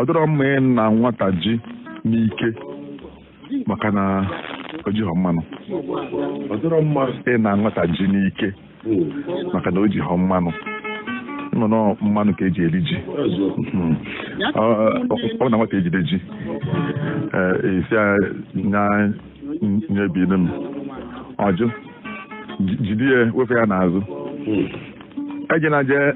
ọ dịrọ mma ịna nwata ji n'ike maka na o jighọ mmanụ ọ dịrọ mma ịna nwata ji n'ike maka na o jighọ mmanụ na ọ na ọ mmanụ ka e ji eri ji hmm. ọ na nwata ejide ji eh, ị sị ya nyebinye m ọ jụ ji- jide ya wefe ya n'azụ ejena jee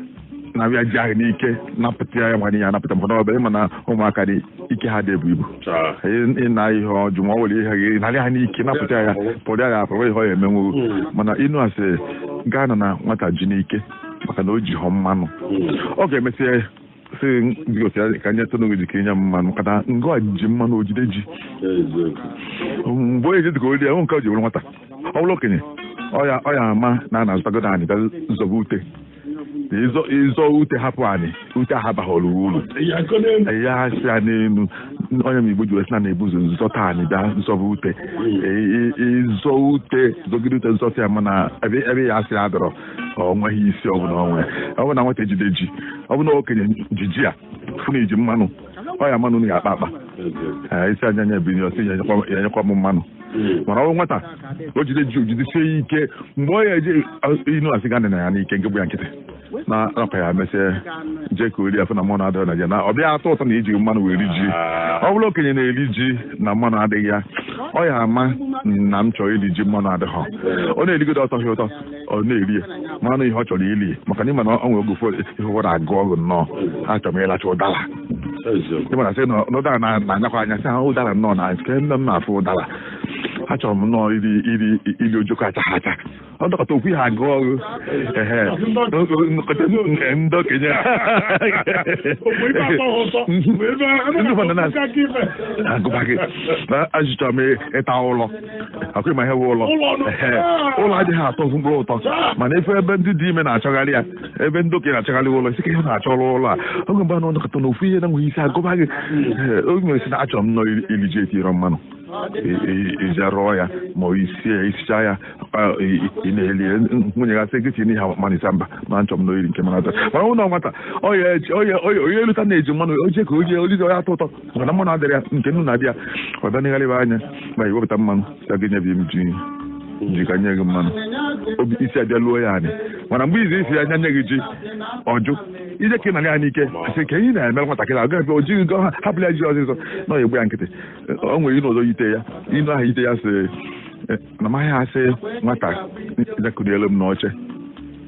na ya ji ahụ n'ike napụta ya ma n'ihe anapụta maka na ọ bụ ị ma na ụmụaka dị ike ha adị ebu ibu Chaa. Ị- ị na ihe ọ jụ ma ọ nwere ihe gị narị ha n'ike napụta ya pụrụ ya apụrụ ihe ọ ya emenwu mana inu asị gị anana nwata ji n'ike maka na o jihọ mmanụ ọ ga-emesịa sị biko ka ka nyetụnụ gị ka i nye m mmanụ maka na ngị a ji mmanụ o jide ji mgbe onye ji dịka o rie ya nke o ji were nwata ọ bụrụ okenye ọ ya ọ ya ama na a na-azọtagodo anị bịa zọba ute ị zọ ị zọ ute hapụ anị ute ahụ abaghọrọ uru ị ya-asa ya n'elu ọ ya mere igbo ji wee sị na na-ebu ụzọ zọta anị bịa zọba ute ị zọ ute zọgide ute zọta ya mana ebe ebe ị ya-asa ya adịrọ ọ nweghị isi ọ bụ na o nwe ọ bụ na nwata ejide ji ọ bụ na okenye ji ji afụ na i ji mmanụ ọ ya ama na a ga-akpa akpa ị sị ya nya nyebiri ọ sị ya nyekwa m mmanụ hmm. mana ọ bụ nwata o jide ji o jidesie ya ike mgbe ọ ya eji inu asị gị anana ya n'ike nke bụ ya nkịtị na akpa ya mesịa jee ka o rie ọ fụ na mmanụ adịghị na ya na ọ bịa atọ ụtọ na e ji mmanụ wee ri ji ah. ọ bụrụ okenye na-eri ji na mmanụ adịghị ya ọ ya ama na m chọrọ iri ji mmanụ adịghị ọ na-erigodo ọ tọhọ ụtọ ọ na-eri ya mana ọ ihe ọ chọrọ iri maka na ị ma na ọ nwere oge ụfọdụ ihe ụfọdụ agụọ gị nnọọ achọrọ m ịlacha ụdara ịmana sị na ụdara na-anyakwa anya sị ha ụdara nnọọ na nke nne m na-afụ ụdara achọrọ m nnọọ iri iri iri ojoko achaghị acha ọ nọkata ofu ihe agụọ gị ehe nkọta nke ndị okenye ndị ụfọdụ na-agụba gị na achọrọ m ịta ụlọ ọ kwa ị ma ihe bụ ụlọ ụlọ adịghị atọ mkpụrụ ụtọ mana ị fụ ebe ndị dị ime na-achọgharị ya ebe ndị okenye na-achọgharị ụlọ ị sị ka ihe na-achọrọ ụlọ a oge mgbe a nọ nọkata na ofu ihe na nweghị isi agụba gị oge nwere sị na achọrọ m nnọọ iri ji etirọ mmanụ i jee rụọ ya ma i sie ya i sichaa ya ị na-eli nwunye gị asị gị tinye mmanụ ị sị mba ma nchọ m nnọọ iri nke mana mana ụlọ nwata onye eluta na-eji mmanụ o je ka o je o lizie onye atọ ụtọ mana mmanụ adịrọ ya nke nnu na-adị ya ọ bịa negharịba anya ma i wepụta mmanụ sị ya nyebi m ji ka m nye gị mmanụ obi esi abịa luo ya anị mana mgbe ị sịzị ya nye gị ji ọ jụ i jee ka ị nara ya n'ike sị ka ihe na-eme nwatakịrị ahụ gafe o jighị gọ ha hapụrụ ya ji ọzịzọ na ọ egbu ya nkịtị o nwere inu ọzọ yite ya inu ahụ yite ya sị na a maghị asị nwata ya kulielu m n'oche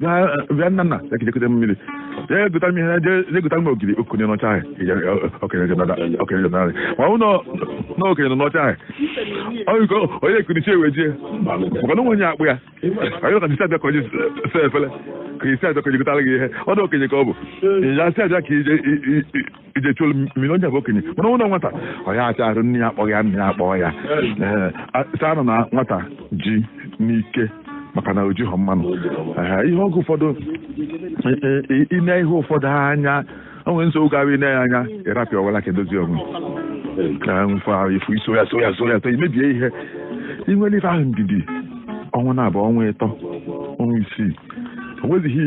bịa nna nna ya ka i jee kuta m mmiri jee gota m ihe jee gota m ogiri okenye anọ n'oche ahụ okenye jọnarị ma ọ na okenye nọ n'oche ahụ ọ ya-ekuni n'oche wee jee maka na onye akpọ ya anyị ka jisi abịa ka o jee saa efele ka isi abịa ka o jee gotara gị ihe ọ na okenye ka ọ bụ ya si abịa ka i je i jee chulu mmiri onye bụ okenye mana ọ bụlụ nwata ọ ya acha arụ nne ya akpọọ ya nne ya akpọọ ya Ee, a sị anana nwata ji n'ike maka na o jighọ mmanụ Ee, ihe ọgụ ụfọdụ e- e- e- i nee ihe ụfọdụ anya o nwere nsogbu ga-abụ i nee ya anya ị rapụ ya o welu aka dozie onwe ya ma ife ahụ ị fụ i so ya so ya so ya so i mebie ihe i nwere ife ahụ ndidi ọnwa naabọ ọnwa ịtọ ọnwa isii o nwezighị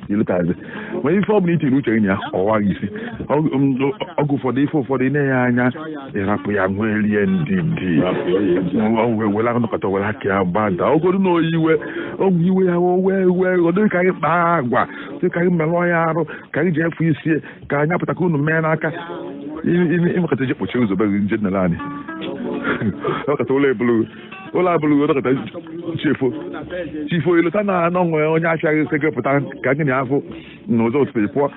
ilotazi ma ife ọbụla i tiri uche gị ya ọ waa gị isi ọgụ ụfọdụ ife ụfọdụ i nee ya anya ị rapụ ya nwelie ndidi were anọkọta were aka ya gbada ogodu na onye iwe ọ bụ iwe ya wee wee ọ dịghị ka anyị kpaa agwa dị ka anyị merụọ ya arụ ka anyị ji efu isi ka anyị apụta ka unu mee n'aka ị mekata jee kpọchie ụzọ be gị nje nele anyị ọkọta ụlọ ebulu ụlọ abụrụ uwe dọkịta chi foo chi foo i lota na o nwere onye achọghị ise gị pụta ka gị na-apụ n'ụzọ ụtụtụ ị pụọ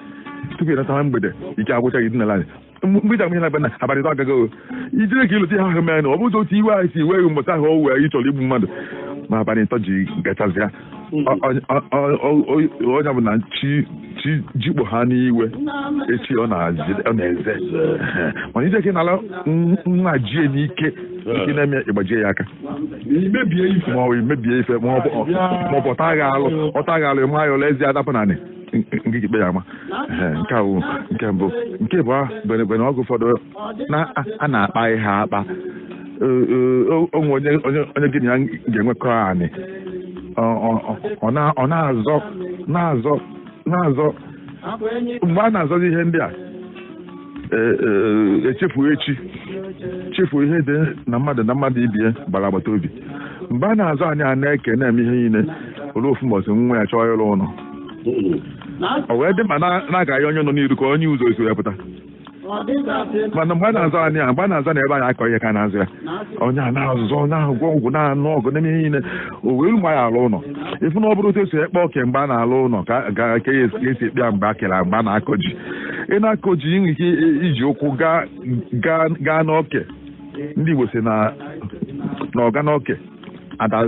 tupu ị natawa mgbede ike agwụcha gị dinala anị mgbe ị ga-amụ anya na be na abalị ịtọ agago i jire ka i lota ihe ahụ mere na ọ bụzi otu iwe anyị si ewe gị mbọsị ahụ o wee ị chọrọ igbu mmadụ ma abalị ịtọ ji gachazịa onye bụ na chi jikpo ha n'iwe echi ọ na-eze mana i jee ka ị nala nwa ji n'ike nke na-eme ị gbajie ya aka ma ọ mebie ife ma ọ bụ ọ taa gị alụ ọ taa gị alụ ị maa ya ọla eze adapụ n'anị nke ikpe ya ama nke ahụ nke mbụ nke ịbọ bụ na ọgụ ụfọdụ na a na-akpa ya akpa o nwee onye onye gị na ya ga-enwekọ anị ọ na-azọ na-azọ na-azọ mgbe a na-azọzi ihe ndị a echefu echi chefu ihe dị na mmadụ na mmadụ ibe ya gbara agbata obi mgbe a na-azọ anị a na-eke na-eme ihe niile o lue ofu mbọchị nwa ya chọọ ịrụ ụlọ o wee dị ma na-aga ya onye nọ n'iru ka o nye ụzọ e si wepụta mana mgbe a na-azọ anị a mgbe a na-azọ na ebe a ya-akọ ihe ka a na-azọ ya onye a na-azọ onye ahụ gwọ ọgwụ na-anụ ọgụ na-eme ihe niile o wee mgbe a ya-alụ ụlọ ị fụ na ọ bụrọ otu e si akpa oke mgbe a na-alụ ụlọ ka ka a ya-esi akpa ya mgbe a kere mgbe a na-akọ ji ị na-akọ ji i nwee ike iji ụkwụ gaa n'oke ndị Igbo sị na ọga n'oke ada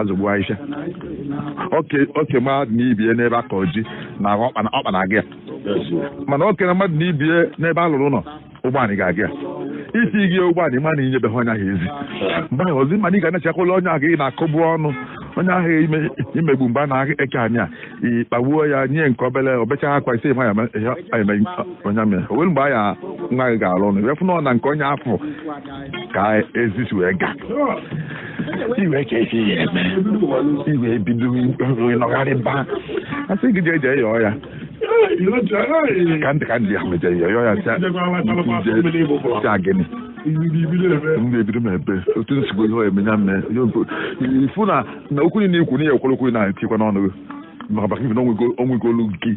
azọgbu aisha oke mmadụ na ibie n'ebe akọ ji na ọkpa na-aga ya mana oke na mmadụ na ibie n'ebe a lụrụ ụlọ ụgbọala ga-aga ya isi gị ụgbọala ị ma na i nyebeghị onye ahụ ezi mgbe ahụ ozi mana ị ga na-echekwala onye ahụ ị na-akọbu ọnụ onye ahụ i megbu mgbe a na-eke anị a ị kpagbuo ya nye nke obere o becha akwa ise ma eme onye amị o nwere mgbe anya nwa gị ga-alụ ụnọ wee fụ na ọ na nke onye afụ ka ezi si wee ga iwe ka e si ya eme i wee bido ịnọgharị ba a sị gị jee jee yọọ ya ka ndị ka ndị ya mejere ya yọọ ya sị ya gịnị m ga-ebido m ebe otu nsogbu ihe emenya mme ị fụ na okwu niile i kwu na ihe ekwere okwu na-etikwa n'ọnụ gị maka maka ife na onwego olu nke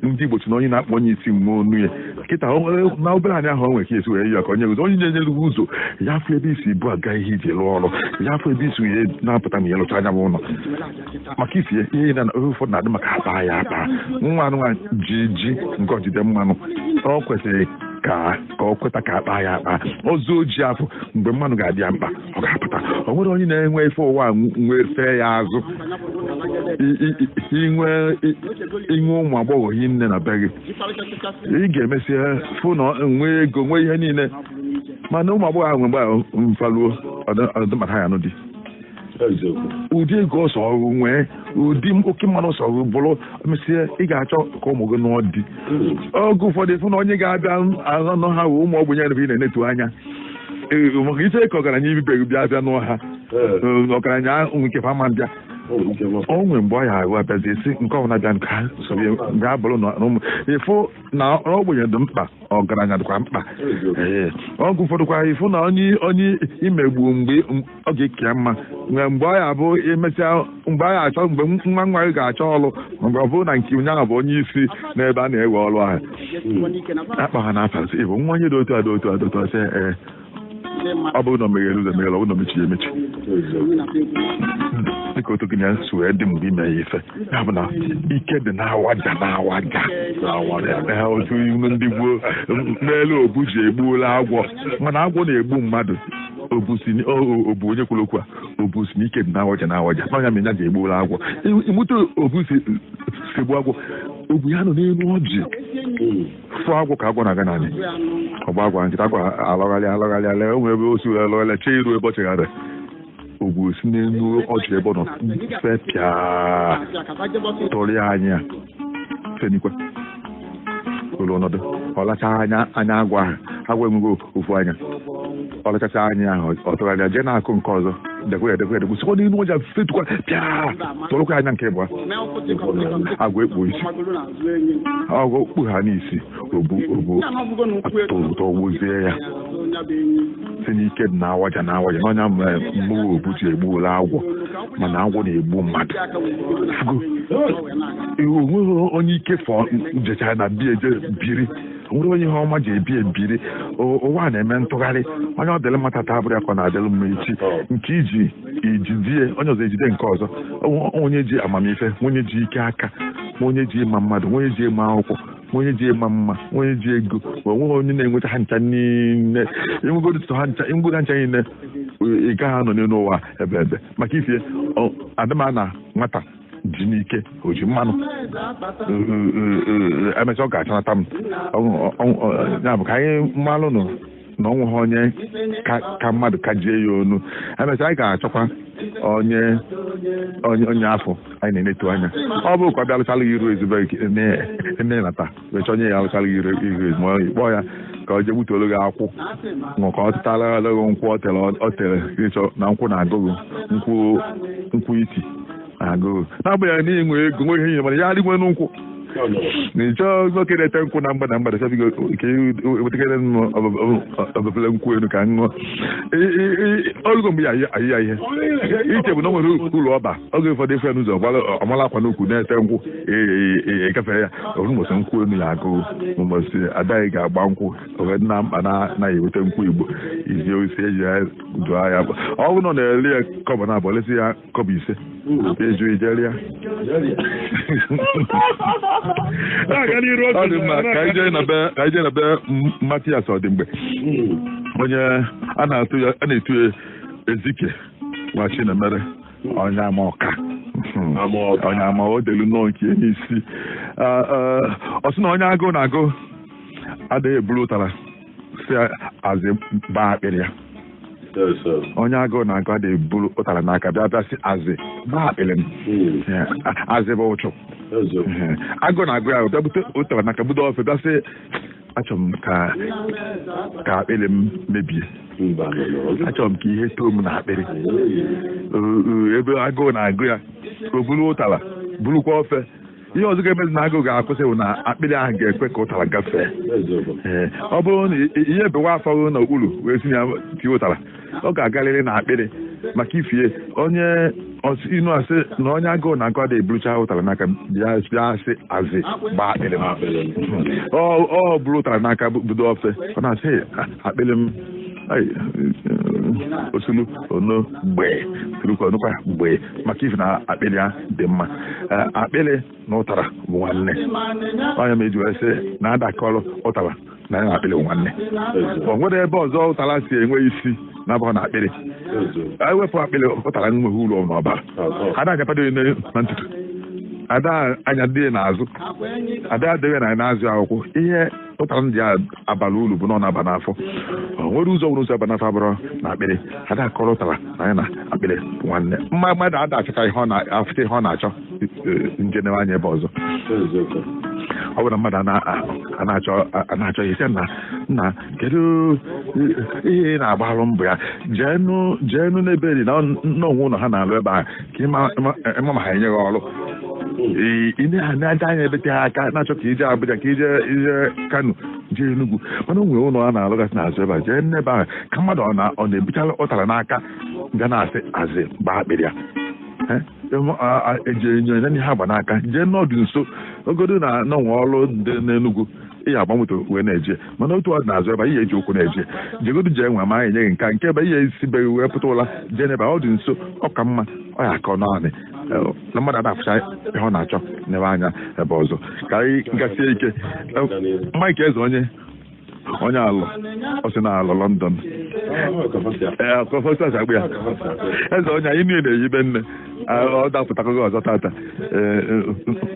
ndị Igbo sị na onye na-akpọ onye isi nwe ọnụ ya kịta na obere anya ahụ nwere ka e si wee ya ka onye ụzọ onye na-enyere gị ụzọ ya afụ ebe e si ebu aga ihe e ji lụọ ọrụ ya afụ ebe e si ihe na-apụta ma ya lụcha anya m ụlọ maka isi ihe na ụfọdụ na-adị maka akpa ya akpa nwa anụ nwa ji ji nke o jide mmanụ ọ kwesịrị ka ọ kweta ka a kpaa ya akpa ọzọ o ji afụ mgbe mmanụ ga-adị ya mkpa ọ ga-apụta o nwere onye na-enwe ife ụwa wee fee ya azụ i nwee i nwee ụmụ agbọghọ hi nne na be gị ị ga-emesi fụ na nwee ego nwee ihe niile mana ụmụ agbọghọ ahụ mgbe fa luo ọdịmata ya nụ di ụdị ego ọ sọrọ nwee ụdị oke mmanụ ọ sọrọ bụrụ mesie ị ga-achọ ka ụmụ gị nụọ di oge ụfọdụ fụ na onye ga-abịa anụ ha ụmụ ogbenye ebe ị na-enetu anya maka i che ka ọgaranya ibe gị bịa bịa nụọ ha ọgaranya nke fa ama abịa o nwere mgbe ọ ya ahụ abịazi a sị nke ọbụla bịa nke ha gaa bụrụ na ụmụ ị fụ na ogbenye dị mkpa ọgaranya dịkwa mkpa oge ụfọdụkwa ị fụ na onye i megbu mgbe ọ ga-aka ya mma mgbe mgbe ọ ya bụ emesịa mgbe a ga-achọ mgbe nwa nwa gị ga-achọ ọrụ mgbe ọ bụrụ na nke onye ahụ bụ onye isi n'ebe a na-ewe ọrụ ahụ a kpọọ ha n'afa sị ị bụ nwa onye dị otu a dị otu a dị otu a sị ee ọ bụrụ na o meghere ụzọ meghere ọ bụrụ na o mechiri emechi dịka otu gị na ya si wee dị mgbe i mee ya ife ya bụ na ike dị n'awaja n'awaja Ee, otu ilu ndị gboo n'elu obu ji egbuola agwọ mana agwọ na-egbu mmadụ obu onye kwuru okwu a obu sị na ike dị n'awaja n'awaja na ọ nya mere nya ji egbuola agwọ ị ma etu obu si egbu agwọ obu ya nọ n'elu ọjị fụ agwọ ka agwọ na-aga n'anị ọ gbaa agwọ nkịta agwọ alọgharị alọgharị ala enwe ebe o si wee alọgharị chee iru ebe ọ chegharị obu si n'elu ọjị ebe ọ nọ fepịa tụrụ ya anya fenikwa elu ọ nọdụ ọ lacha anya anya agwọ ahụ agwọ enweghị ofu anya ọ lachacha anya ahụ ọ tụgharịa jee n'akụkụ nke ọzọ dekwe ya dekwe ya dekwe sikwa n'elu ọjị fetukwa pịa tụrụkwa anya nke ịbụa agwọ ekpuo isi agwọ okpu ha n'isi tụgbuzie ya sị na ike dị n'awaja n'awaja na ọ nya mere obu ji egbuola agwọ mana agwọ na-egbu mmadụ o nweghị onye ike fọ jechara na bie je biri nwere onye ihe ọma je bie biri ụwa na-eme ntụgharị onye ọ dịrị mma tata abụrọ ya ka ọ na-adịrị mma echi nke i ji i jide onye ọzọ ejide nke ọzọ onye ji amamife onye ji ike aka onye ji ịma mmadụ onye ji ịma akwụkwọ onye ji ịma mma onye ji ego ma o nweghị onye na-enweta ha ncha niile i nwegodu ha ncha i nwego ha ncha niile ị gaghị anọ n'elu ụwa ebeebe maka ife adịma na nwata ji n'ike o ji mmanụ emechaa ọ ga-achanata m ya bụ ka anyị malụ nụ na o nweghị onye ka mmadụ ka jie ya onu emechaa anyị ga-achọkwa onye onye onye afụ anyị na-enetu anya ọ bụ ka ọ bịa lụchala iru ezigbo na-enata wee chọọ onye ya alụchala iru iru ezigbo onye kpọọ ya ka ọ jee gbutuolu gị akwụ ka o tetara gị nkwụ o tere o tere ịchọ na nkwụ na-agụ gị nkwụ nkwụ iti agụ gị na-agbanyeghị na i nwe ego nwe ihe ihe mana ya adịgwe n'ụkwụ na ị chọọ nwoke na-ete nkwụ na mgbada mgbada chọbigo ka ewetakere ọbụbụla nkwụ elu ka ṅụọ olugo mgbe ya ayị ya ihe iche bụ na o nwere ụlọ ọba oge ụfọdụ ị fụ n'ụzọ ọ mala akwa n'ukwu na-ete nkwụ ị gafe ya ụbọchị nkwụ elu ya-agụ gị ụbọchị adaghị ga-agba nkwụ oge na mkpa na-anaghị eweta nkwụ igbo izi osi eji ya dụọ ya ọ bụrụ na ọ na-ele ya kọbọ naabọ o lesi ya kọbọ ise eju ijeri ya na-aga n'iru ọ dị mma ka anyị jee na be ka anyị jee na be M- Matias Ọdịmgbe onye a na-atụ ya a na-etu ya Ezike nwa Chinemere onye ama ọka Ama ọka. onye ama o delu nnọọ nke ya sị Ah, ah, ọ sị na onye agụụ na-agụ adịghị eburu ụtara si azị baa akpịrị ya onye agụụ na-agụ ada eburu ụtara n'aka bịa bịa si azị gbaa akpịrị m hmm. azị bụ uchu agụụ na-agụ ya bịa bute ụtara n'aka budo ofe bịa sị achọrọ m ka ka akpịrị m mebie achọrọ m ka ihe too m na akpịrị ebe agụụ na-agụ ya o buru ụtara burukwa ofe ihe ọzọ ga-emezi na agụụ ga-akwụsị bụ na akpịrị ahụ ga-ekwe ka ụtara gafee Ee, ọ bụrụ na i- ihe bewa afọ gị n'okpuru wee si na ya tie ụtara ọ ga-agarịrị na akpịrị maka ifie onye ọs- ị nụ a sị na onye agụụ na-agụ ada eburucha ụtara n'aka bịa bịa sị azị gbaa akpịrị m ọ ọ bụrụ ụtara n'aka bu- budo ofe ọ na-asị "Hey, a- akpịrị m ai, osulu ono mgbe tulukwa onukwa mgbe maka ife na akpịrị ya dị mma eh, akpịrị na ụtara bụ nwanne ọ ya m ji wee sị na ada akọrọ ụtara na ya na akpịrị bụ nwanne o nwere ebe ọzọ ụtara si enwe isi na-abụghị na akpịrị ewepụ akpịrị ụtara nweghị ulu ọ bara ada anyapado na ntutu ada anyado ya n'azụ ada adịghị na n'azụ akwụkwọ ihe ụtara ndị a abalị ulu bụ na ọ na-aba n'afọ o nwere ụzọ nwere ụzọ aba n'afọ abụrọ na akpịrị ada akọrọ ụtara na ya na akpịrị bụ nwanne mma mmadụ ada achọta ihe ọ na-afụta ihe ọ na-achọ jee newe anya ebe ọzọ ọ bụrụ na mmadụ na-achọ ihe sị na nna kedu ihe ị na-agbalụ mbọ ya jeenụ n'ebe eri na o nwe ụlọ a na-alụ ebe ahụ ka ị mara ma ha enye gị ọrụ ị na-aja anya ebe tere aka na-achọ ka i je Abuja ka i je i je Kano jee Enugu mana o nwere ụlọ a na-alụgasị n'azụ ebe a jee n'ebe ahụ ka mmadụ ọ na-ebuchara ụtara n'aka ga na-asị azị gbaa akpịrị ya eji enyo enye ha gba n'aka jee n'ọdụ nso ogodo na na enwe ọrụ dị n'Enugu ihe agba moto wee na-eje mana otu ọ dị n'azụ ebe ihe eji ụkwụ na-eje jegodu jee nwa ma anyị enye gị nka nke ebe ihe esibeghị wee pụta ụla jee n'ebe ọ dị nso ọ ka mma ọ ya akọ naanị na mmadụ ada afụcha ihe ọ na-achọ nebe anya ebe ọzọ ka anyị jisie ike Mike Eze onye onye alụ ọ sị na alụ London ee kọfọstas akpụ ya eze onye anyị niile na-eyibe nne ọ dapụtago gị ọzọ tata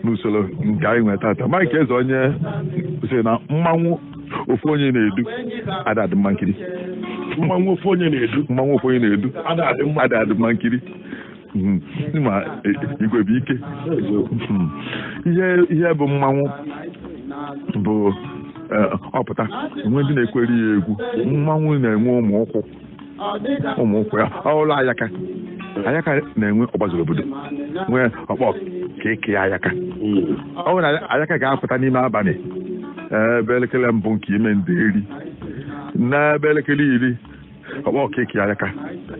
n'usoro nke anyị nwere tata Mike Eze onye sị na mmanwụ ofu onye na-edu ada adị mma nkiri mmanwụ ofu onye na-edu mmanwụ ofu onye na-edu ada adị mma nkiri ma igwe bụ ike ihe bụ mmanwụ bụ ọ pụta enwe ndị na-ekwere ya egwu mmanwụ na-enwe ụmụ ụkwụ ụmụ ụkwụ ya ọ bụrụ ayaka ayaka na-enwe ọgbazuru obodo nwee ọkpọ ka eke ayaka ọ bụrụ na ayaka ga-apụta n'ime abalị ebe elekere mbụ nke ime ndeeri n'ebe elekere iri ọkpọ ka eke ayaka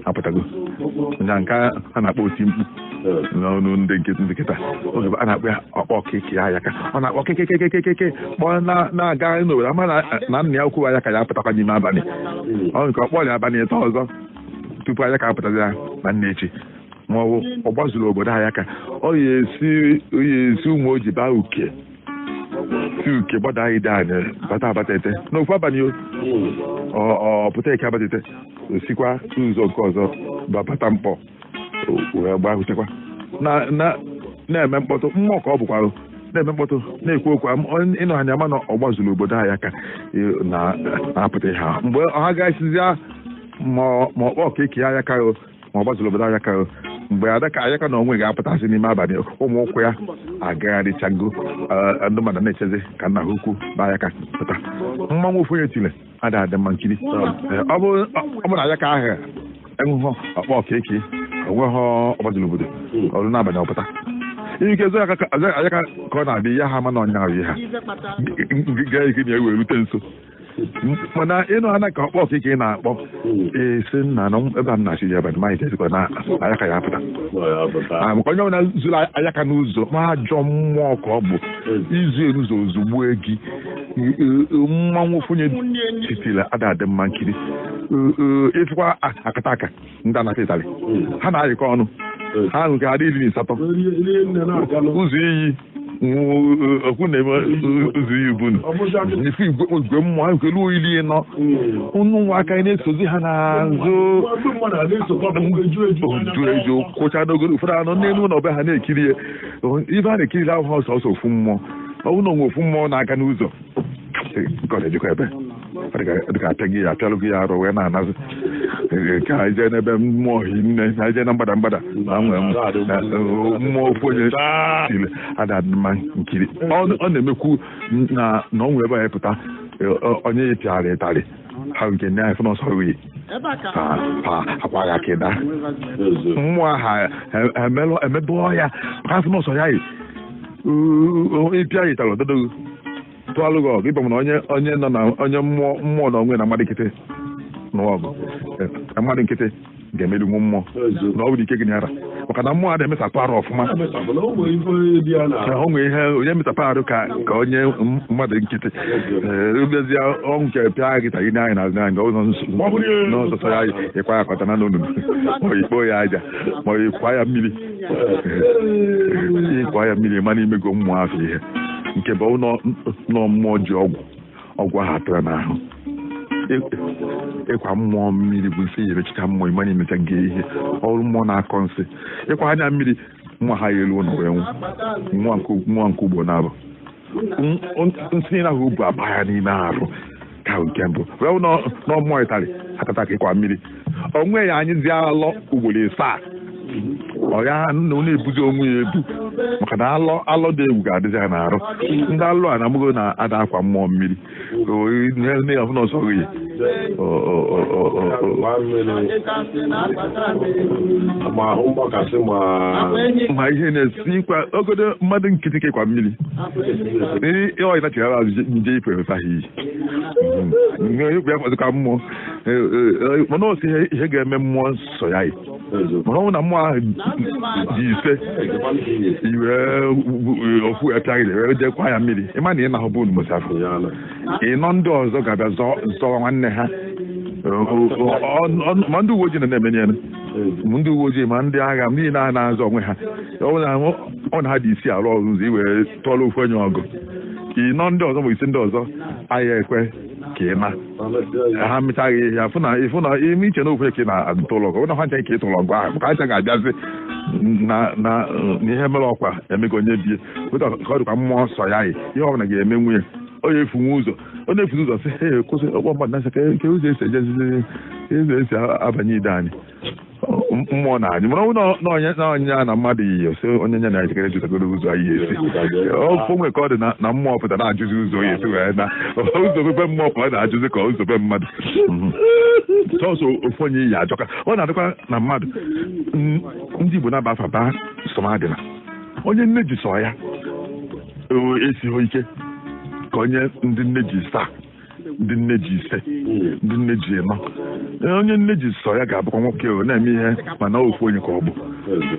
apụtago na nke a na-akpọ oti mkpu n'ọnụ ndị nkịtị oge a na-akpọ ya ọkpọ keke ayaka ọ na-akpọ kekekekekeke kpọọ na-aga n'obodo a ma na nna ya ukwu ayaka ya-apụtakwa n'ime abalị o nwee ike ọ kpọọ ya abalị ịtọ ọzọ tupu ayaka apụtazi ya na nna echi ma ọ bụ ọgbazuru obodo ayaka ọ ya esi ụmụoji baa uke si uke gbada ideani bata abatete n'ofu abalị ọ pụta eke abatete o sikwa ụzọ nke ọzọ bata nkpọ wee gbahụtekwa na-eme mkpọtụ mmụọ ka ọ bụkwarụ na-eme mkpọtụ na-ekwu okwu ịnụ anya ma na ọgbazuru obodo ayaka na-apụta ha mgbe ha gasịzịa ma ọkpọ ka eke ayaka ma ọgbazuru obodo ayaka mgbe adaka ayaka na onwe ga-apụtasị n'ime abalị ụmụ ụkwụ ya agagharịchago eh, ndị mmadụ na-echezi ka nna ha ukwu na ayaka pụta mmanwụ ofu onye tili ada adị mma nkiri ọ bụ na ayaka ahụ enweghị ọkpọ ka eke o nweghị ọgbazuru obodo o ruo n'abalị ọ pụta i nwee ike zuo ayaka ka ọ na-abịa ya ha ma na ọ nya ahụ ihe ha gaa ike na ewee rute nso mana ịnụ ana ka ọkpọ ka eke na-akpọ esi nna na ebe a m na-achị ya abalị maghị ezikwa na ayaka ya-apụta maka onye ọbụla zuru ayaka n'ụzọ ma ajọ mmụọ ka ọ bụ i zu ya n'ụzọ o zugbue gị mmanwụ ofu onye tiri ada adị mma nkiri ị fụkwa akataka ndị anata ịtalị ha na-ayịkọ ọnụ ha nwee ike adị iri na asatọ ụzọ iyi okwu na-eme ụzọ iyi bụ ife igwe mmụọ nwee ike lu ili anọ ụmụaka na-esozi ha n'azụ oju eju kwụcha n'ogoro ụfọdụ anọ n'elu ụlọ be ha na-ekiri ya ife a na-ekiri abụhọ sọọsọ ofu mmụọ ọ bụ na o nwe ofu mmụọ na-aga n'ụzọ nke ọ na-ejikwa ebe dịka apịa gị ya apịalụ gị ya arụ wee na-ana azụ nke a i jee n'ebe mmụọ hi nne na i jee na mgbada mgbada na nwee mmụọ ofu onye tili ada mma nkiri ọ na-emekwu na na o nwee ebe anyị pụta onye ya pịara ịtarị ha nke nne anyị fụ n'ọsọ wee akwa gị aka ị daa mmụọ ha emelụ emebe ọhịa ha fụ n'ọsọ ya yi ịpịa ya ịtarị ogodo gị tụalụ gị ọgụ ịbụ na onye onye nọ na onye mmụọ mmụọ na onwe na mmadụ nkịtị na ọgụ na mmadụ nkịtị ga-emeri nwa mmụọ na ọ bụrụ ike gị nyara maka na mmụọ a na-emesapụ arụ ọfụma o nwere ihe onye mesapụ arụ ka ka onye mmadụ nkịtị ebezie ọnwụ nke pịa gị tagide anyị n'azụ anyị ụzọ n'ọsọsọ ya ịkwa ya aka ọ daa na n'onunu ma ikpo ya aja ma ịkwa ya mmiri ịkwa ya mmiri ịmana imego mmụọ afọ ihe nke bụ nọ mmụọ ji ọgwụ ọgwụ ahụ atara n'ahụ ịkwa mmụọ mmiri bụ nsị yerechika mmụọ ịmana imechago ihe ọ bụrụ mmụọ na-akọ nsị ịkwa ya mmiri mmụọ ahụ ya-elu ụlọ wee nwụọ nwa nke ugbo na-abụ nsị niile ahụ o bu aba ya n'ime arụ ka nke mbụ wee na ọ mmụọ ịtarị ada ata ka ịkwa mmiri onwe ya anyịzi alọ ugboro ịsaa ọ ya na ọ na-ebuzi onwe ya ebu maka na alọ alọ dị egwu ga-adịzi ya n'arụ ndị alụ a na-amụgo na ada akwa mmụọ mmiri ihe ndị ya fụ na ọsọ gị ma ihe na-esi kwa ogodo mmadụ nkịtị ka ị kwa mmiri ndị ọyị nachigara azụ je yife efe ahụ o yi ikwu ya fọzịkwa mmụọ mana o so ihe ga-eme mmụọ nsọ ya mana ọ bụ na mmụọ ahụ dị ise i were ofu echaghịrị wee je kwa ya mmiri ịma na ị na-ahụ bụ unu mụsafụ ịnọ ndị ọzọ ga-abịa zọwa nwanne ha ma ndị uwe ojii na na-emenye ya ndị uwe ojii ma ndị agha ndị na na-azọ onwe ha ọ na ha dị ise arụ ọrụ ụzọ i wee tụọrọ ofu onye ọgụ ịnọ ndị ọzọ ma ise ndị ọzọ aya ekwe ka ị na ha mịtaghị ihe ya ịfụ na ime iche na ofu ka ị na-atụlọ ọgụ na ha ncha ka ị tụlọ ọgụ ahụ ka ha ncha ga-abịazi na ihe mere ọkwa emego onye bie ka ọ dịkwa mmụọ nsọ ya ihe ọ bụla ga-eme nwunye onye efunwe ụzọ ọ na-efuzi ụzọ sị he kwụsị ọkpọ mmadụ na-asị kee ụzọ esi ejezizi ụzọ esi abanye ide anyị mmụọ na anyị mana ọ bụ na mmadụ iyi ose onye nye na ya jikere jụtagoro ụzọ anyị esi ofe o nwe ka ọ dị na mmụọ pụta na-ajụzi ụzọ ya esi wee naa ụzọ be mmụọ pụta na-ajụzi kee ụzọ be mmadụ sọsọ ofu onye ije ajọka ọ na-adịkwa na mmadụ ndị Igbo na-aba afa baa Sọmadịna onye nne ji sọ ya esighị ike ka onye ndị nne ji ịsaa ndị nne ji ise ndị nne ji ịnọ Ee, onye nne ji sọ ya ga-abụkwa nwoke o na-eme ihe mana ofu onye ka ọ bụ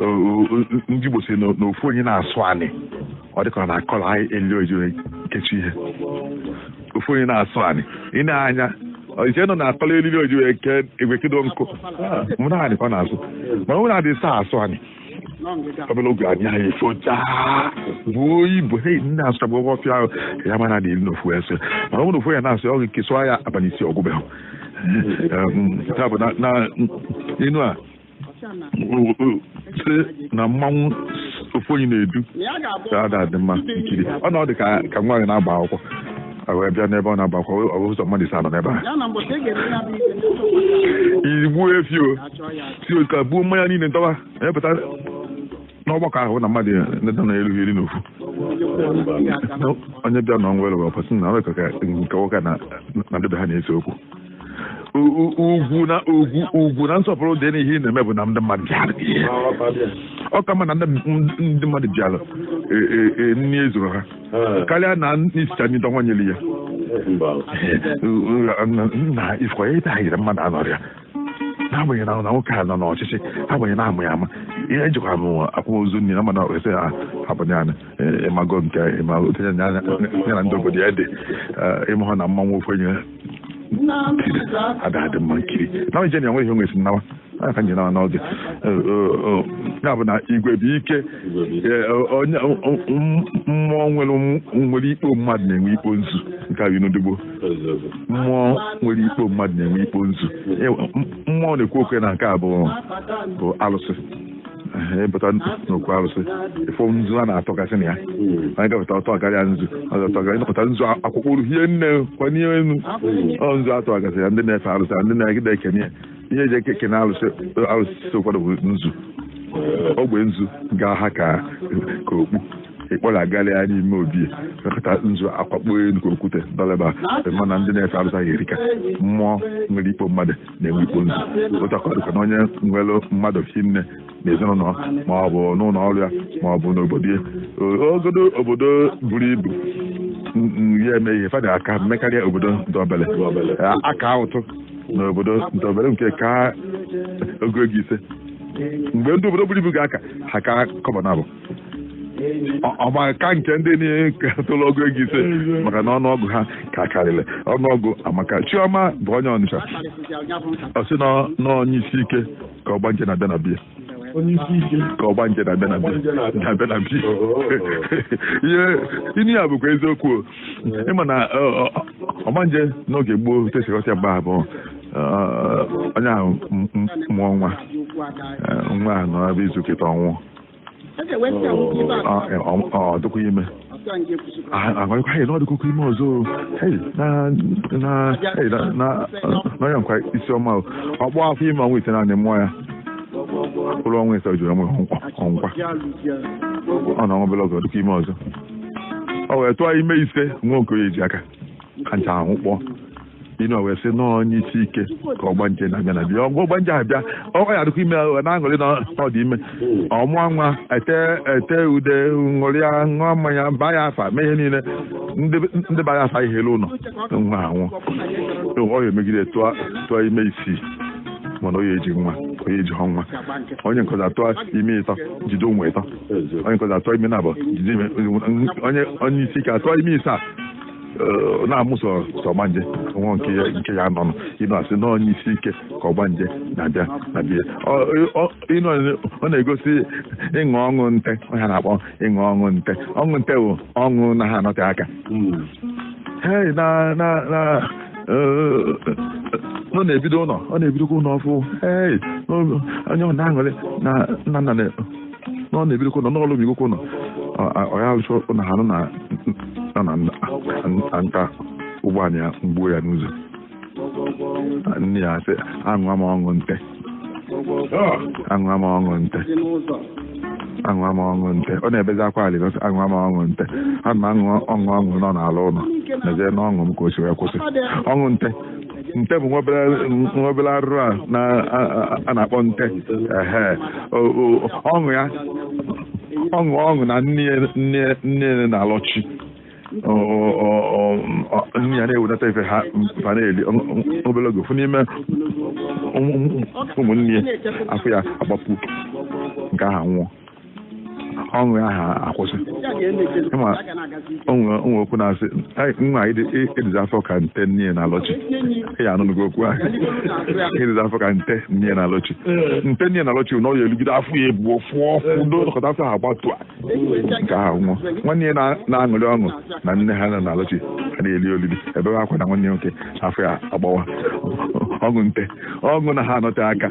O- o- o- ndị Igbo si na na ofu onye na-asụ anị ọ dịka ọ na-akọrọ eriri o jiri kechi ihe ofu onye na-asụ anị i nee anya i chee na ọ na-akọrọ eriri o ji wee ekedo nkụ mana anị ka ọ na-asụ mana ọ bụ na a dị ịsaa asụ anị obele oge anyị anyị ọfịa buru ibu hie nne asụchapụ ọgwụ ọfịa ahụ ka ya mara na elu n'ofu ese mana ọ bụrụ ofu ya na-asụ ọ ka-asụ ya abalị isii ọ gwụbeghị ya bụ na inu a sị na mmanwụ ofu onye na-edu ada adị mma nkiri ọ na ọ dị ka nwaanyị na-agba akwụkwọ wee bịa n'ebe ọ na-agba akwụkwọ ọ bụ ụzọ mmadụ ise nọ n'ebe a i gbuo efi o si otu a buo mmanya niile ntọba epụta n'ọgbakọ ahụ na mmadụ ndị na erughị iri n'ofu onye bịa na ọnwa elụwa ọpọsị na ọrịa ka nke nwoke na ndị be ha na-ese okwu ugwu na ugwu ugwu na nsọpụrụ dị n'ihe ị na-eme bụ na ndị mmadụ bịara ọ ka mma na ndị mmadụ bịara e, e, e, nri ezuru ha karịa na i sichaa nri dọnwa nyere ya na ị fụkwa ebe a yiri mmadụ anọrịa n'agbanyeghị na na nwoke a nọ n'ọchịchị agbanyeghị na-amụ ya ama ihe ejikwa m akwamozu nni na mmanya ese ha abụghị anyị ị mago nke ya na ndị obodo ya dị ị mahụ na mmanwụ ofu onye ada adị mma nkiri na onye na enweghị onwe si nnawa a ka nyere n'oge ya bụ na igwe bụ ike mmụọ nwere ikpo mmadụ na-enwe ikpo nzu nke a bụ inu ndigbo mmụọ nwere ikpo mmadụ na-enwe ikpo nzu e, mmụọ na-ekwu okwu na nke a bụ bụ alụsị ị pụta n'okwu arụsị ị fụ nzu a na-atọgasị na ya hmm. anyị gapụta ọtọ karịa nzu ịnọkọta nzu akwakọrọ hie nne kwanye elu ọ nzu atọ gasị ya ndị na-efe arụsị ndị na-ejide ekene ya ihe eji ekene arụsị arụsị ụfọdụ bụ nzu ogbe nzu ga-aha ka okpu ịkpọrọ agalị ya n'ime obi mekọta nzu akwakpo elu ka okwute dọrọ eba mana ndị na-efe arụsị ahụ erika mmụọ nwere ikpo mmadụ na-enwe ikpo nzu otu a ka ọ dịkwa na onye nwere mmadụ hie nne na ezinụlọ ma ọ bụ n'ụlọ ọrụ ya ma ọ bụ n'obodo ya ogodo obodo buru ibu ya eme ihe fa da aka emekarịa obodo ndị obele aka ụtụ na obodo ndị obele nke ka ọgụ ego ise mgbe ndị obodo buru ibu ga-aka ha ka kọbọ naabọ ọ maka nke ndị niile nke tụrụ ọgụ ego ise maka na ọnụọgụ ha ka karịrị ọnụọgụ amaka chioma bụ onye ọnịcha ọ sị na onye isi ike ka ọgbanje na-abịa na be ya ka ọgbanje na-abịa na be ya na be ya inu a bụkwa eziokwu ị ma na ọgbanje n'oge gboo tesịkọta mgbe ahụ bụ onye ahụ mụọ nwa nwa ahụ nọ ebe izu kịta ọ nwụọ ọ dịkwa ime agwakwa ya na ọ dịkwa ime ọzọ n'ọya nkwa isi ọma ọ kpọọ afọ ime ọnwa itenaanị mụọ ya luo ọnwa ise jụrụ ọnwa ọ nwụkwa ọ na ọnwa bela ọzọ dịkwa ime ọzọ ọ wee tụọ ime ise nwa nke o ji aka kacha ahụ kpọọ inu wee sị na onye isi ike ka ọgbanje na-abịa na be ya ọgwụ ọgbanje abịa ọkwa ya adịkwa ime ọ na-aṅụrị na ọ dị ime ọ mụọ nwa ete ete ude ṅụrịa ṅụọ mmanya baa ya afa mee ihe niile ndị ndị baa ya afa ihe eluo ụlọ nwa anwụọ ọ ya emegide tụọ tụọ ime isii mana onye eji nwa onye eji hụ nwa onye nke ọzọ atụọ ime ịtọ jide ụmụ ịtọ onye nke ọzọ atụọ ime na abụọ jide ime onye onye isi ike atụọ ime ise a eh, na-amụ sọsọ ọgbanje nwa nke ya nke ya nọ nọ inu asị na onye isi ike ka ọgbanje na-abịa na be ya Ọ- ọ- inu ọ na-egosi ịṅụ ọṅụ nte ọ ha na-akpọ ịṅụ ọṅụ nte ọṅụ nte bụ ọṅụ na ha anọte aka Hey, na na na eh, ọ na-ebido ụlọ ọ na-ebidokwa ụlọ ọfụ hey, onye ọ na-aṅụrị na nna nna na- na ọ na-ebidokwa ụlọ n'ọlụ bigokwa ụlọ ọ ya alụcha ụlọ ha nọ na-anata ụgbọala egbuo ya n'ụzọ nne ya sị aṅụa m ọṅụ nte aṅụa m ọṅụ nte aṅụa m ọṅụ nte ọ na-ebezi akwa alịlị sị aṅụa m ọṅụ nte a na m aṅụ ọṅụ ọṅụ na ọ na-alụ ụlọ nezie n'ọṅụ m ka o si wee kwụsị ọṅụ nte nte bụ nwa obere arụrụ a na-akpọ nte ọṅụ ya ọṅụ ọṅụ na nne na-alọchi nne ya na-ewedata ife ha na-eli obere oge ofu n'ime ụmụnne afọ ya agbapuo nke ahụ anwụọ ọṅụ ahụ akwụsị ị ma o nwe o nwe okwu a na-asị "Ai, nwa ịdịzi afọ ka nte nne na alọchi ị nụnụgo okwu ahụ ịdịzi afọ ka nte nne na alọchi nte nne na alọchi na ọ ya eligide afọ ya ebuo ụfọdụ ọkọta afọ ha agbapuo nke ahụ anwụọ nwanne ya na- na-aṅụrị ọṅụ na nne ha nọ na alọchi ha na-eli olili ebe akwa na nwanne ya nwoke afọ ya agbawa ọṅụ nte ọṅụ na ha anọte aka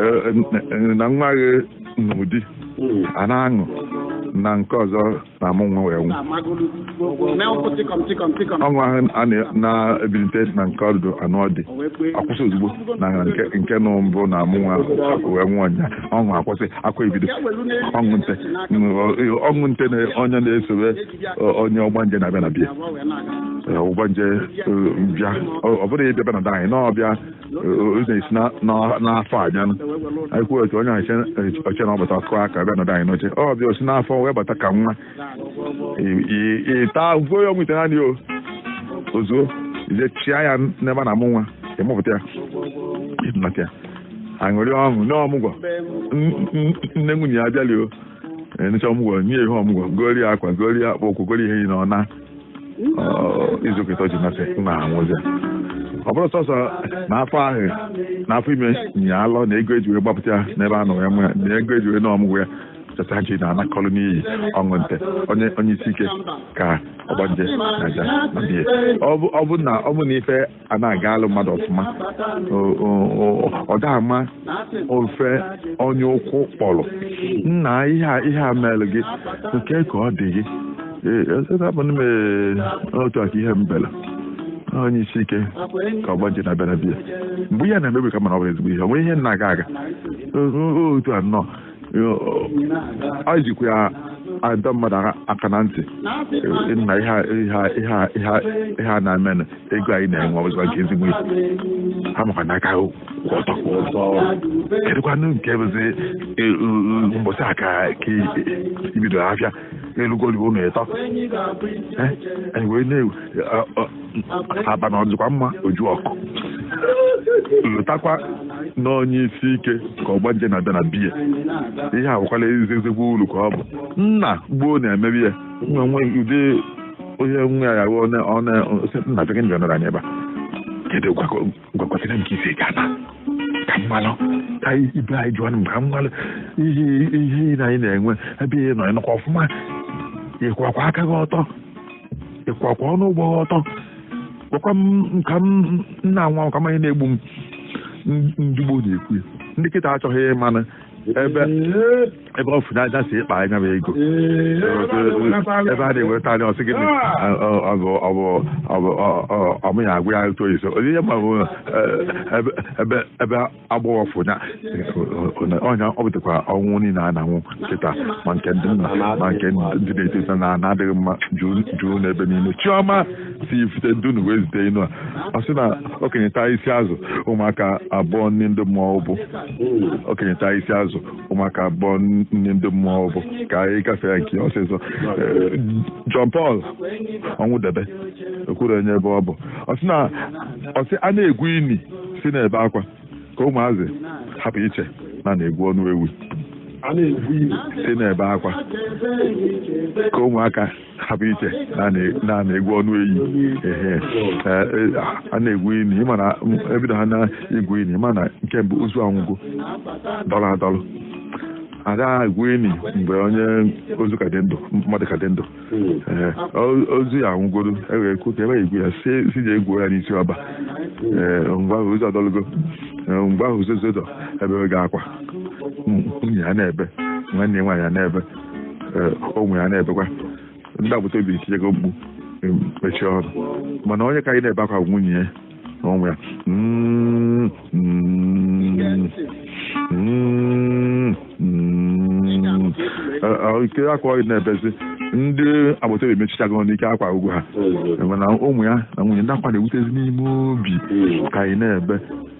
Eh, eh, na nwa gị n'ụdị hmm. a na-aṅụ na nke ọzọ na-amụ nwa wee nwụ ọṅụ ahụ a na-ebilite na nke ọdụdụ anụọ di akwụsị ozugbo na nke nụ mbụ na-amụ nwa wee nwụọ nya ọṅụ akwụsị akwa ebido ọṅụ nte ọṅụ nte na onye na-esobe onye ọgbanje na-abịa na be ya ọgbanje bịa ọ bụrụ ya ịbịaba na anyị na ọbịa ụzọ esi na- na- n'afọ abịanụ anyị kwuo otu onye ọchịchị ọchịchị na ọbata ọ kụ aka bịa nọdụ anyị n'oche ọbịa o si n'afọ wee bata ka nwa Ị- ị- ịta ahụhụ ya ọnwa itenaanị o ozuo i je chịa ya n'ebe a na-amụ nwa ịmụpụta ya ịnata ya aṅụrị ọṅụ nee ọmụgwọ N- n- nne nwunye ya abịali o enecha ọmụgwọ nye ihe ọmụgwọ gori ya akwa gori ya akpụkwụ gori ihe yi na ọna izu ụka ịtọ ji nasị na anwụzi ọ bụrụ sọsọ na afọ ahụ na afọ ime nyị alọ na ego eji wee gbapụta ya n'ebe a nọ ya mụ ya na ego eji wee nee ọmụgwọ ya cheta ji na anakọlụ n'iyi ọṅụ nte onye onye isi ike ka ọgbanje na-abịa na be ya ọ bụ ọ bụ na ọ bụ na ife a na-aga alụ mmadụ ọfụma ọ da-ama ofe onye ụkwụ kpọrọ nna ihe a mere gị nke ka ọ dị gị abụ m otu aka ihe mbela onye isi ike ka ọgbanje na-abịa na be ya mgbe ihe na-emebi ka mana ọ bụrụ ezigbo ihe o nwe ihe na-aga aga otu a nnọọ anyị jikwa ya adọ mmadụ aka na ntị na ihe a na-emenụ ego anyị na-enwe ọzọ nke ezigbo ibu ha makwa n'aka ọtọ kwa ọzọ kedụkwanụ nke bụzi mbọsị aka ka ibido afịa n'elugoli ụlọ ịtọ anyị wee na-aba na ọdịkwa mma oju ọkụ lotakwa na onye isi ike ka ọgbanje na-abịa na be ya ihe awụkwala ezi ezigbo uru ka ọ bụ nna gboo na-emebi ya nwe ụdị onye nwe ya ya nna bekee nọ na ebe a gwakọtara m ka isi ga na ka m malụ ka ibe anyị jụọ m ka m malụ ihe ihe na anyị na-enwe ebe ị nọ ị nọkwa ọfụma ịkwakwa aka gị ọtọ ịkwakwa ọnụ ụgbọ gị ọtọ gwakwa m ka m nna nwa ka mmanya na-egbu m ndị gboo na-ekwu ya ndị kịta achọghị ịmanụ ebe ebe ọ fụna aja si ịkpa anya bụ ego ebe a na-enweta anya ọ sị gịnị ọmụ ya agwa ya otu oyise onye ihe ma ebe ebe agbọghọ fụnya ọnya ọ bụtakwa ọnwụ niile a na-anwụ kịta ma nke ndị nna ma nke ndị na-eto eto na na-adịghị mma juu n'ebe niile Chiọma si Ifite Dunu wee zite inu a ọ sị na okenye taa isi azụ ụmụaka abọọ nni ndị mmụọ ubu okenye taa isi azụ ụmụaka abọọ nni ndị mmụọ ubu ka anyị gafee nke ọsịsọ eh, John Paul Ọnwụdebe o kwurọ onye ebe ọ bụ ọ sị na ọ sị a na-egwu ini si na-ebe akwa ka ụmụazị hapụ iche na a na-egwu ọnụ ewi si na-ebe akwa ka ụmụaka hapụ iche na a na-egwu ọnụ eyi ehe a na-egwu ini ịma na ebido ha na-egwu ini ịma na nke mbụ ozu anwụgo dọrọ adọrọ ada egwu ini mgbe onye ozu ka dị ndụ mmadụ ka dị ndụ ozu ya anwụgoro ewere kwu ka ebe egwu ya si ji egwu ya n'isi ọba mgbe ahụ ozu adọlụgo mgbe ahụ ozu zodọ ebe ga akwa nwunye ya na-ebe nwanne nwaanyị ya na-ebe ụmụ ya na-ebekwa ndị agbata obi etinyego mkpu mechie ọnụ mana onye ka anyị na-ebe akwa nwunye ya na ụmụ ya ike akwa ọyị na-ebezi ndị agbata obi mechichago n'ike akwa agwụ ha mana ụmụ ya na nwunye ndị akwa na-ewutezi n'ime obi ka anyị na-ebe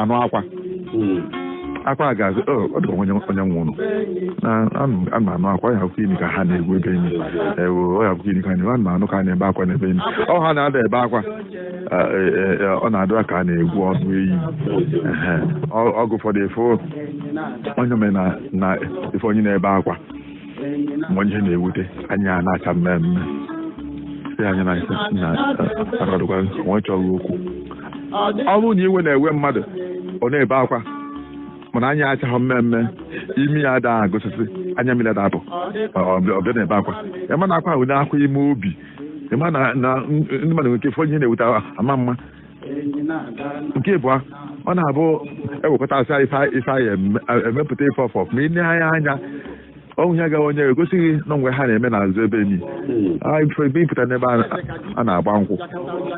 anụ akwa hmm. akwa ga-azụ oh, ọ dị ka o nwe onye nwụrụ a na-anụ akwa ya abụkwa ini ka ha na-egwu ebe enyi ewu ọ ya abụkwa ini ka a na-anụ ka a na-ebe akwa n'ebe enyi ọ ha na-ada ebe akwa e, e, e, ọ na-adịra ka a na-egwu ọnụ eyi oge ụfọdụ ife onye na ife onye na-ebe akwa onye ihe na-ewute anya a na-acha mmee mmee si anya na ise na akọdụkwa nwe chọghị okwu ọ bụrụ na iwe na-ewe mmadụ ọ na-ebe akwa mana anya achaghị mmee mmee imi ya ada agụsịsị anya mmiri ada apụ ọ bịa na-ebe akwa ịma na akwa ahụ na-akwa ime obi ịma na na ndị mmadụ nwere ike fụ ihe na-ewute ama mma nke ịbụa ọ na-abụ ewekọta asị ife ife anyị eme- emepụta ife ọfọ ma ị nee anya anya o nwe ihe agaghị onye egosi gị na o nwe ihe ha na-eme n'azụ ebe enyi anyị fere ebe ị pụta n'ebe a- a na-agba nkwụ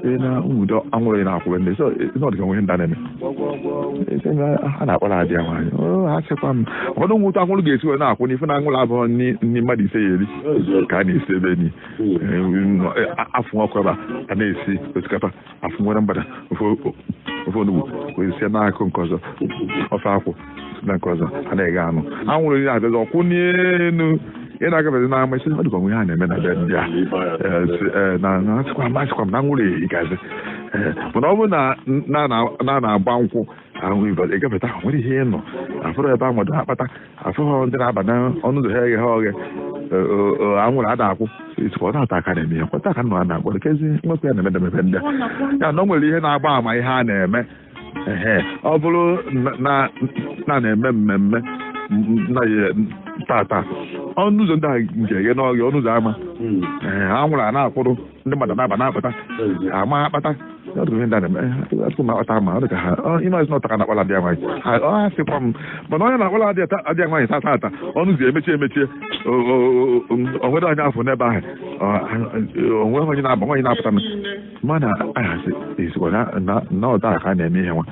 ị na nwudo anwụrụ a na-akwụrụ ndị so ọ dị ka o nwe ndị a na-eme Ese na ha na-akpọrọ ada ya nwaanyị o ha sịkwa m ụfọdụ nwụta anwụrụ ga-esi wee na-akwụ n'ife na anwụrụ abụrọ nni nni mmadụ ise ya eri ka a na-esi ebe enyi afụ ọkụ ebe a a na-esi osikapa afụ nwere mgbada ofe onugbu wee sie n'ọkụ nke ọzọ ofe akwụ na nke ọzọ a na-eghe anụ anwụrụ ya abịazi akwụ n'elu ị na-agabezi n'ama ị sị ọ dịkwa ihe a na-eme na be ndị a na-asịkwa masịkwa m na anwụrụ ehi gazi mana ọ bụrụ na a na-agba nkwụ ahụ ị gafeta ahụ nwere ihe ị nụ afụghị ebe a mado akpata afụghị ndị na-aba n'ọnụ ụzọ ha eghe ha oghe anwụrụ ada akwụ ị sịkwa ọ taa ka a na-eme ya kwa taa ka nọ a na-akpọ kezi nwekwa ihe a na-eme na be ndị a na o nwere ihe na-agba ama ihe a na-eme ọ bụrụ na a na-eme mmemme na tata ọnụ ụzọ ndị a nke eghe n'oghe ọnụ ụzọ ama anwụrụ a na-akwụrụ ndị mmadụ na-aba na-apụta ama akpata atụkụ m akpata ma ọ dị ka ha ịmazi na ọ taa ka na-akpala adịa nwaanyị ọ ha sịkwa m mana onye na-akpala adịa nwaanyị tata ata ọnụ ụzọ emechie emechie o nwere onye a fụ n'ebe ahụ o nwe onye na-aba nwaanyị na-apụta m mana ahasị ezikwa na ọ taa ka a na-eme ihe nwa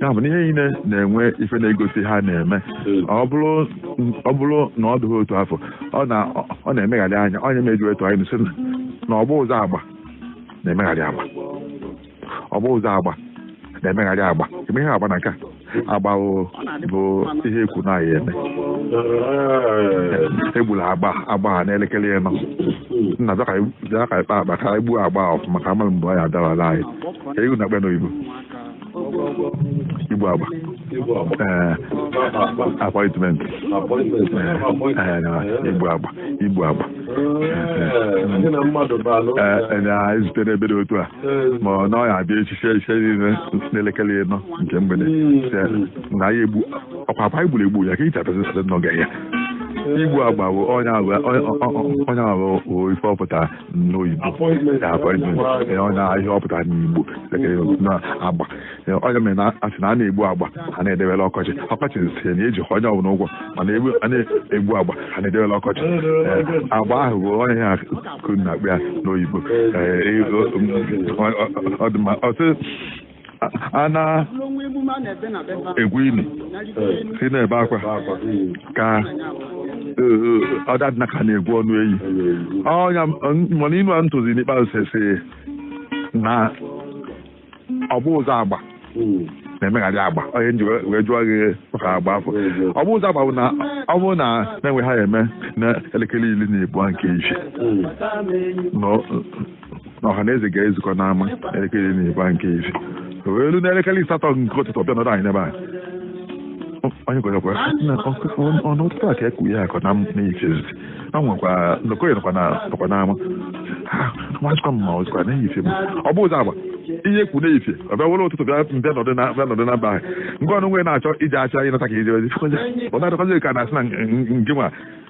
ya bụ na ihe niile na-enwe ife na-egosi ha na-eme ọ bụrụ na ọ dụghị otu afụ ọ na ọ na-emegharị ya ọ ya me e ji wee tụa n'inu sị na obu ụzọ agba na-emegharị agba obu ụzọ agba na-emegharị agba e me ihe agba na nke a agba o- bụ ihe e kwu na a ya-eme egbula agba agba a n'elekere ịnọ nna bịa ka anyị- bịa ka anyị kpaa akpa ka anyị gbuo agba a ọfụma ka a mara mgbe ọ ya-adawala anyị ka egwu na-akpọ n'oyibo igbu agba ee appointment ee na igbu agba igbu agba ee na-ezute n'ebe dị otu a ma ọ na ọ ya-abịa echi echi niile n'elekere ịnọ nke mgbede na ya egbu ọkwa akwa igburu egbu ya ka ị chapezi site n'oge ya igbu agba bụ onye agba onye agba bụ ife ọ pụtara n'oyibo appointment ee, ọ na ihe ọ pụtara n'igbo na agba Ee, ọ ya mere a na-asị na a na-egbu agba a na-edewela ọkọchị ọkọchị sị na eji onye ọbụla ụgwọ mana egbu- a na-egbu agba a na-edewela ọkọchị Ee, agba ahụ bụ ihe ha kwuru na-akpọ ya n'oyibo Ee, ego- ọ- ọ- ọ dị mma otu a na-egwu ili si na-ebe akwa ka ọ da adịna ka a na-egwu ọnụ eyi ọnya mana inu a m tụzi n'ikpeazụ sesi na obu ụzọ agba na-emegharị agba ọ ya m ji wee jụọ gị maka agba afụ obu ụzọ agba bụ na ọ bụrụ na e nwe ihe a eme na elekere iri na abụọ nke isi na ọha na eze ga-ezukọ n'ama elekere iri na ịbụa nke isi wee lu n'elekere ịsatọ nke ụtụtụ ọ bịa nọdụ anị n'ebe a onye gwarakwa ọnụ ụtụtụ a ka ekwu ya akọ na ichezi a nwekwa nọkọnye nọkwa n'ama nwazikwa m ma ọzikwa n'efifie m obu ụzọ agba ihe e kwu n'efifie ọ bịa were ụtụtụ bịa mbịa nọdụ na mbịa nọdụ na mba ahụ nke ọnụ nwere na-achọ ije achọ ịnata ka ije ozi ọ na-adọkọzi ka na-asị na nke nwa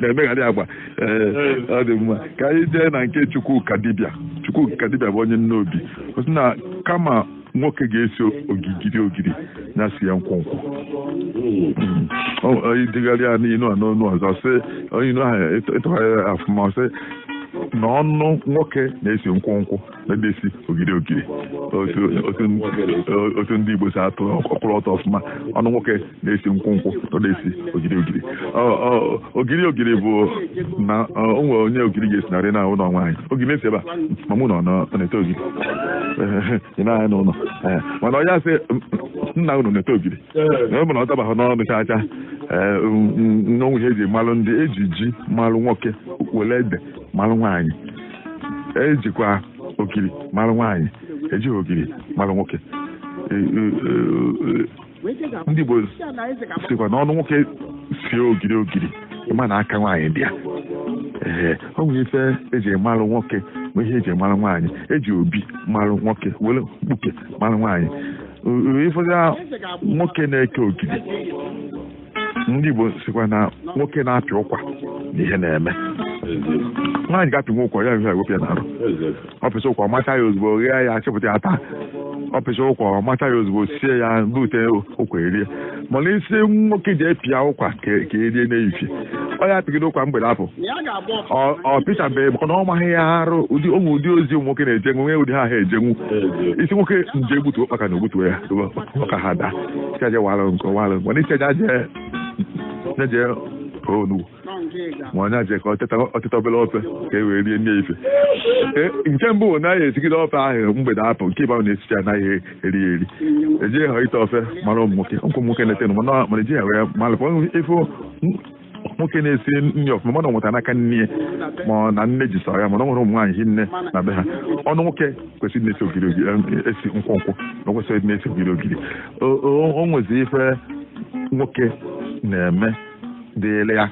na-emegharị agba ee ọ dị mma ka anyị jee na nke Chukwukadibịa Chukwukadibịa bụ onye Nnobi ọ sị na kama nwoke ga-esi ogigiri ogiri ya sie nkwụnkwụ i degharịa n'inu a n'ọnụ ọzọ sị inu ahụ ị tụgharịa ọfụma sị na ọnụ nwoke na-esi nkwụnkwụ ọ da esi ogiri ogiri otu ndị Igbo si atụ ọ kwụrụ ọtọ ọfụma ọnụ nwoke na-esi nkwụ nkwụ ọ da esi ogiri ogiri ogiri ogiri bụ na o nwere onye ogiri ga-esi n'arụ na ụlọ nwaanyị ogiri esibe a ma na ọ na-ete ogiri ị na-anya n'ụlọ mana onye asị nna unu na-ete ogiri na ọ bụ na ọ tabaghị n'ọnụ chaa chaa na o nwe ihe eji malụ ndị e ji ji malụ nwoke were ede malụ nwaanyị ejikwa ogiri mara nwaanyị ejighị ogiri mara nwoke e, e, e, ndị Igbo sịkwa na ọnụ nwoke sie ogiri ogiri ị ma na aka nwaanyị dị ya ee ọ nwere ife eji mara nwoke ma ihe eji mara nwaanyị eji obi mara nwoke were mkpuke mara nwaanyị ifọdụ nwoke na-eke ogiri ndị Igbo sịkwa na nwoke na-apị ụkwa na ihe na-eme nwaanyị ga-apịnwu ụkwa ya ihe ewepụ ya n'arụ ọ pịsịa ụkwa ọ macha ya ozugbo ghee ya chepụta ya taa ọ pịsịa ụkwa ọ macha ya ozugbo sie ya bute ụkwa erie mana ị sị nwoke jee pịa ụkwa ka erie n'ehihie ọ ya apịgide ụkwa mgbede apụ ọ pịchabeghị maka na ọ maghị ya arụ ụdị o nwe ụdị ozi ụmụ nwoke na-ejenwu nwee ụdị ha ha ejenwu ị sị nwoke jee gbutu ụkpaka na o gbutu ya ka ha daa Sị ya je walụ nkụ walụ nkụ. Na ị sị ya je aje. Sị ya je onu. Ma onye aje ka o teta o teta obere ofe ka e wee rie nni ife. E, Nke mbụ bụ na ọ ya esigide ofe ahụ mgbede apụ nke ịbụa na esicha anaghị eri ya eri. Ejighị ha ite ofe mara ụmụ nwoke ụmụ nwoke na-etenwu mana mana ejighị ha wee malụ ife nwoke na-esi nri ọfụma mana o nweta n'aka nne ya ma ọ na nne ji sara ya mana ọ nwere ụmụ nwaanyị hinne na be ha ọnụ nwoke kwesịrị na-esi ogiri ogiri eh, esi nkwụ nkwụ na o kwesịrị na-esi ogiri ogiri O- o o nwezi ife nwoke na-eme dịịrị ya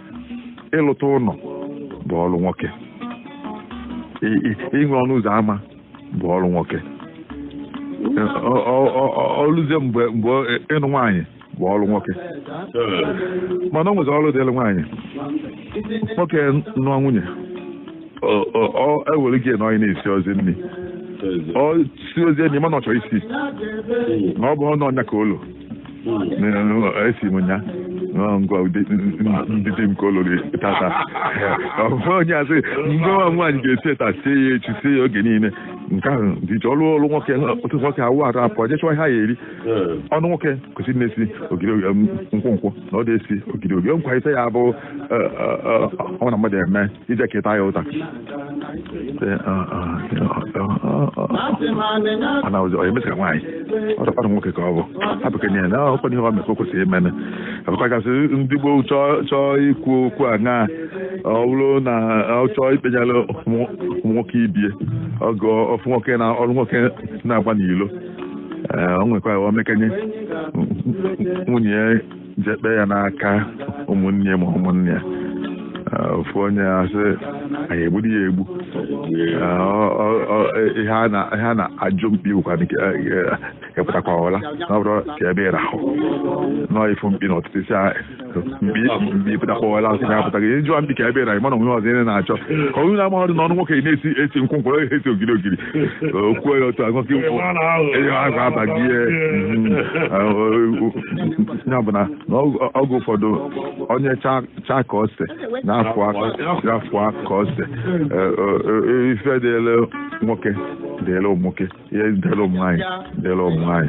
ịlụta ụlọ bụ ọrụ nwoke I- i- inwe ọnụ ụzọ ámá bụ ọrụ nwoke Ọ- ọ- ọ- ọ- o luzie mgbe mgbe ịnụ nwaanyị bụ ọrụ nwoke mana ọ nwezi ọrụ dịrị nwaanyị nwoke nụọ nwunye ewere gị na onye na-esi ozi nri ọ si ozi enyi mana ọ chọrọ ịsị na ọ bụ ọnụ ọnya ka ụlọ esi m nya ngwa ndị di m ka olori tata ọ bụ onye asị ngwa nwaanyị ga-esi ya taa sie ya echi sie ya oge niile nke ahụ dị ọrụ ọrụ nwoke ụtụtụ nwoke awụ arụ apụ jee chụwa ihe a ya eri ọnụ nwoke kwesịrị na-esi ogiri nkwụ nkwụ na ọ dị esi ogiri ogiri nkwa ise ya bụ e, e, e, ọ na mmadụ eme ije keta ya ụta mana ọzọ onye mesịra nwaanyị ọdọkwanụ nwoke ka ọ bụ abụkenye na ọkwa ihe ọ mefe kwesịrị imene abụkwa gasị ndị gboo chọọ ikwu okwu a na ọ bụrụ na ọ chọọ ikpenyere ụmụ nwoke ibie ọgụ ọfụ nwoke na ọnụ nwoke na-agba n'ilo ee o nwekwa o mekenye nwunye ya je kpee ya n'aka ụmụnne ya ma ụmụnna ya Ee, ofu onye asị anyị egbudi ya egbu Ee, ọ- ọ- ọ- ihe a na- ihe a na-ajụ mkpi bụkwa nke ị pụtakwa ọla na ọ bụrọ ka ebe ị rahụ nọọ ị fụ mkpi n'ụtụtụ ị sị a- mkpi ị pụtakwa ọla asị na apụta gị ịjụwa mkpi ka ebe ị rahụ ma na o nwe ọzọ ị na-achọ ka onye na amahọdụ na ọnụ nwoke na-esi esi nkwụ nkwụ onye esi ogiri ogiri okwu ya otu ahụ gị nkwụ enye ahụ abaghị ihe ya bụ na oge ụfọdụ onye chaa ka ose na-afụ ka ose ife dịele nwoke dịele ụmụ nwoke ihe dịele ụmụ nwaanyị dịele ụmụ nwaanyị